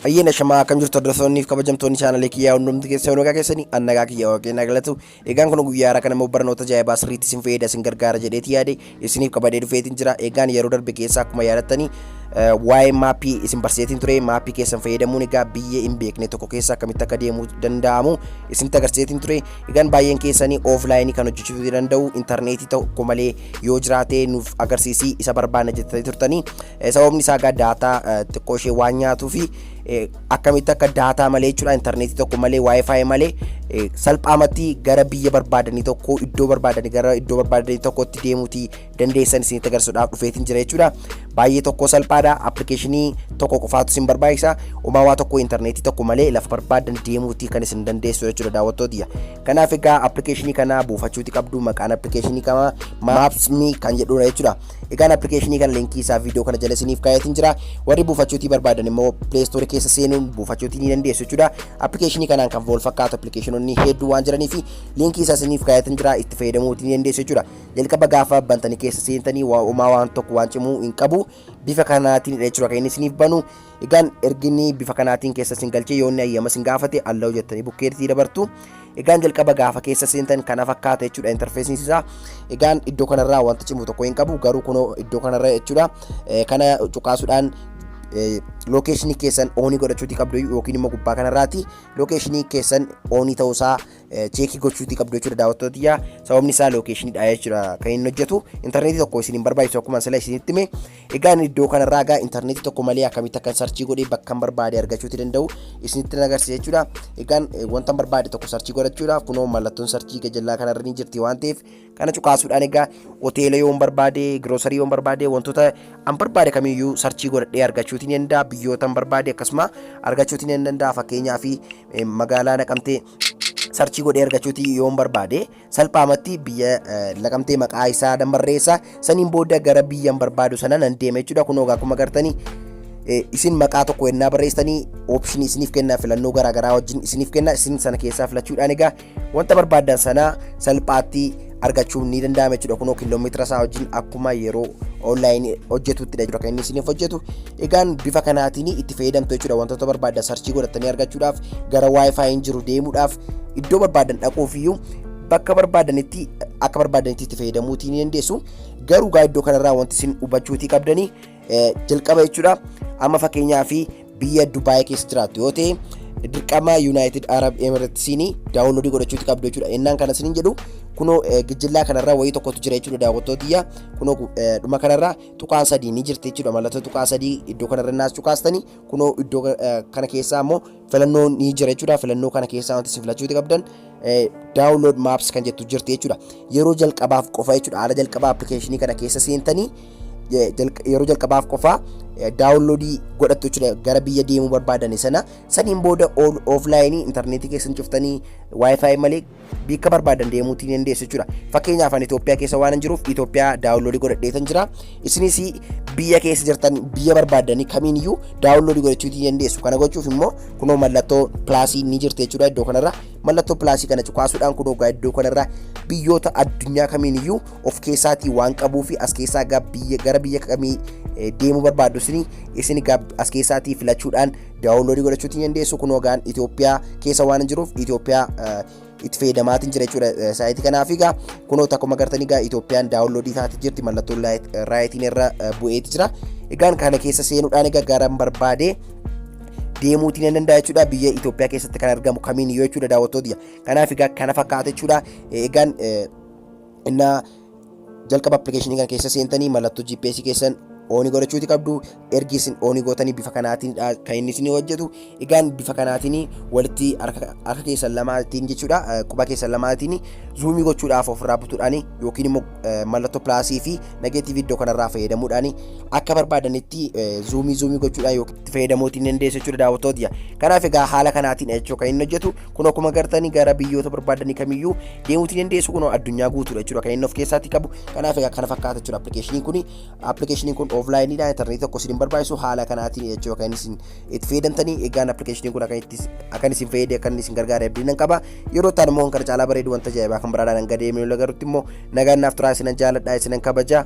Ayyeen ashamaa akkam jirtu hordoftoonniif kabajamtoonni chaanalee kiyyaa hundumti keessa hoonagaa keessanii annagaa kiyya waaqeen agalatu egaan kun guyyaa har'a kana immoo barnoota ajaa'ibaa sirriitti isin fayyada isin gargaara jedheeti yaade isiniif qabadee dhufeetiin jira egaan yeroo darbe keessa akkuma yaadattanii waa'ee maappii isin barsiiseetiin ture maappii keessan fayyadamuun egaa biyya hin beekne tokko keessa akkamitti akka deemuu danda'amu isinitti agarsiiseetiin ture Egaan baay'een keessanii ooflaayinii kan hojjechiisuu danda'u intarneetii tokko malee yoo jiraate nuuf agarsiisii isa barbaanna jettanii turtanii sababni isaa egaa daataa xiqqoo ishee waan nyaatuu fi akkamitti akka daataa malee jechuudha intarneetii tokko malee waayifaayi malee salphaamatti gara biyya barbaadanii tokko iddoo barbaadanii gara iddoo barbaadanii tokkotti deemuuti dandeessan isinitti agarsiisuudhaaf dhufeetiin jira jechuudha. Baay'ee tokko salphaadha. Appilikeeshinii tokko qofaatu isin barbaachisa. Umaa waa tokko intarneetii tokko malee lafa barbaadan deemuuti kan isin dandeessu jechuudha daawwattootiyya. Kanaaf egaa appilikeeshinii kana buufachuuti qabdu maqaan appilikeeshinii kana Maapsmii kan jedhudha jechuudha. Egaan appilikeeshinii kana linkii isaa viidiyoo kana jala isiniif kaa'eetiin jira. Warri buufachuutii barbaadan immoo pileestoorii keessa seenuun buufachuutii ni dandeessu jechuudha. Appilikeeshinii kanaan kan wal fakkaatu appilikeeshinoonni hedduu waan jiraniif linkii isaa isiniif kaa'eetiin jira itti fayyadamuutii ni dandeessu jechuudha. jalqaba gaafa bantanii keessa seentanii waa umaa waan tokko waan cimuu hin qabu bifa kanaatiin dha jechuudha kan inni isiniif banu egaan erginni bifa kanaatiin keessa isin galchee yoo inni ayyama isin gaafate allahu jettanii bukkeetti dabartu egaan jalqaba gaafa keessa seentan kana fakkaata jechuudha interfeesiin isaa egaan iddoo kanarraa wanta cimu tokko hin qabu garuu kunoo iddoo kanarra jechuudha Eh, kana cuqaasuudhaan lookeeshinii keessan oonii godhachuuti qabdu yookiin immoo gubbaa kanarraati lookeeshinii keessan oonii ta'uusaa cheekii gochuutii qabdu jechuudha daawwattoota yaa sababni isaa lookeeshiniidha jechuudha kan inni hojjetu intarneetii tokko isin hin barbaachisu akkuma sila isinitti hime egaa inni iddoo kanarraa egaa intarneetii tokko malee akkamitti akkan sarchii godhee bakkan barbaade argachuuti danda'u isinitti na agarsiisa jechuudha egaan wanta barbaade tokko sarchii godhachuudhaaf kunoo mallattoon sarchii gajallaa kanarra ni jirti waan ta'eef Kana cuqaasuudhaan egaa hoteela yoon barbaade, giroosarii yoon barbaade, wantoota an barbaade kamiyyuu sarchii godhadhee argachuutiin ni danda'a. Biyyoota an barbaade akkasuma argachuutiin ni danda'a. Fakkeenyaaf eh, magaalaa naqamtee sarchii godhee argachuuti yoon barbaade salphaamatti biyya eh, naqamtee maqaa isaa nan barreessa. Saniin booda gara biyyan barbaadu sana nan deema jechuudha. Kun ogaa akkuma gartanii Eh, isin maqaa tokko ennaa barreessitanii option isiniif kenna filannoo garaagaraa wajjin isiniif kenna isin sana keessaa filachuudhaan egaa wanta barbaaddan sana salphaatti argachuun ni danda'ama jechuudha kunoo kiiloomeetira isaa wajjin akkuma yeroo onlaayinii hojjetutti jechuudha kan inni isiniif hojjetu egaan bifa kanaatiin itti fayyadamtu jechuudha wantoota barbaaddan sarchii godhattanii argachuudhaaf gara waayifaayiin jiru deemuudhaaf iddoo barbaaddan dhaquuf iyyuu bakka barbaadanitti akka barbaadanitti itti fayyadamuutii ni dandeessu garuu gaa iddoo kanarraa wanti isin hubachuutii qabdanii jalqaba jechuudha. Amma fakkeenyaa fi biyya Dubaay keessa jiraattu yoo ta'e dirqama Yuunaayitid Arab Emiratiisiin daawunloodii godhachuuti qabdu jechuudha. Innaan kana isiniin jedhu kunoo gijjillaa kanarra wayii tokkotu jira jechuudha daawwattootiyya. Kunoo dhuma kanarra tuqaan sadii ni jirti jechuudha. Mallattoo tuqaa sadii iddoo kanarra naas cuqaastanii kunoo iddoo kana keessaa immoo filannoo ni jira jechuudha. Filannoo kana keessaa wanti isin filachuuti qabdan download maps kan jettu jirti jechuudha. Yeroo jalqabaaf qofa jechuudha. Haala jalqabaa appilikeeshinii kana keessa seentanii yeroo jalqabaaf qofa daawunloodii godhattu jechuudha gara biyya deemuu barbaadani sana saniin booda ooflaayinii intarneetii keessan cuftanii waayifaayi malee Biikka barbaadan deemuutti ni dandeessu jechuudha. Fakkeenyaaf ani Itoophiyaa keessa waan jiruuf Itoophiyaa daawunloodii godhadheetan jira. Isinis biyya keessa jirtan biyya barbaadanii kamiin iyyuu daawunloodii godhachuu ni dandeessu. Kana gochuuf immoo kunoo mallattoo pilaasii ni jirti jechuudha iddoo kanarra. Mallattoo pilaasii kana cuqaasuudhaan kunoo gaa iddoo kanarra biyyoota addunyaa kamiin iyyuu of keessaatii waan qabuu fi as keessaa gara biyya kamii deemuu barbaaddu isin as keessaatii filachuudhaan daawunloodii godhachuutti ni dandeessu kunoo gaan Itoophiyaa keessa waan jiruuf Itoophiyaa itti fayyadamaatiin jira jechuudha saayitii kanaaf egaa kunoo akkuma agartanii egaa Itoophiyaan daawunloodii taate jirti mallattoon raayitiin irra bu'eeti jira egaan kana keessa seenuudhaan egaa garan barbaade deemuutiin ni danda'a jechuudha biyya Itoophiyaa keessatti kan argamu kamiin yoo jechuudha daawwattoota kanaaf egaa kana fakkaata jechuudha egaan Innaa jalqaba appilikeeshinii kana keessa seentanii mallattoo GPS keessan ooni godhachuuti qabdu ergi isin ooni gootanii bifa kanaatiin kan inni isin hojjetu egaan bifa kanaatiin walitti harka keessan lamaatiin jechuudha quba keessan lamaatiin zuumii gochuudhaaf ofirraa butuudhaan yookiin immoo mallattoo pilaasii fi nageetiivii iddoo kanarraa fayyadamuudhaan akka barbaadanitti zuumii zuumii gochuudhaan yookiin itti fayyadamuutiin dandeessu jechuudha daawwattoota kanaaf egaa haala kanaatiin jechuudha kan inni hojjetu Kun akkuma gartanii gara biyyoota barbaadanii kamiyyuu deemuutii dandeessu kun addunyaa guutuudha jechuudha kan inni of keessatti qabu kanaaf egaa kana fakkaata jechuudha appilikeeshiniin kun appilikeeshiniin kun ooflaayiniidha intarneetii tokko isin barbaachisu haala kanaatiin jechuudha kan isin itti fayyadamtanii egaan appilikeeshiniin kun akkan isin fayyade akkan isin gargaare abdiin qaba yeroo ta'an immoo kan caalaa bareedu wanta ajaa'ibaa kan biraadhaan hanga deemee lagarutti immoo nagaan naaf turaa isinan jaaladha isinan kabajaa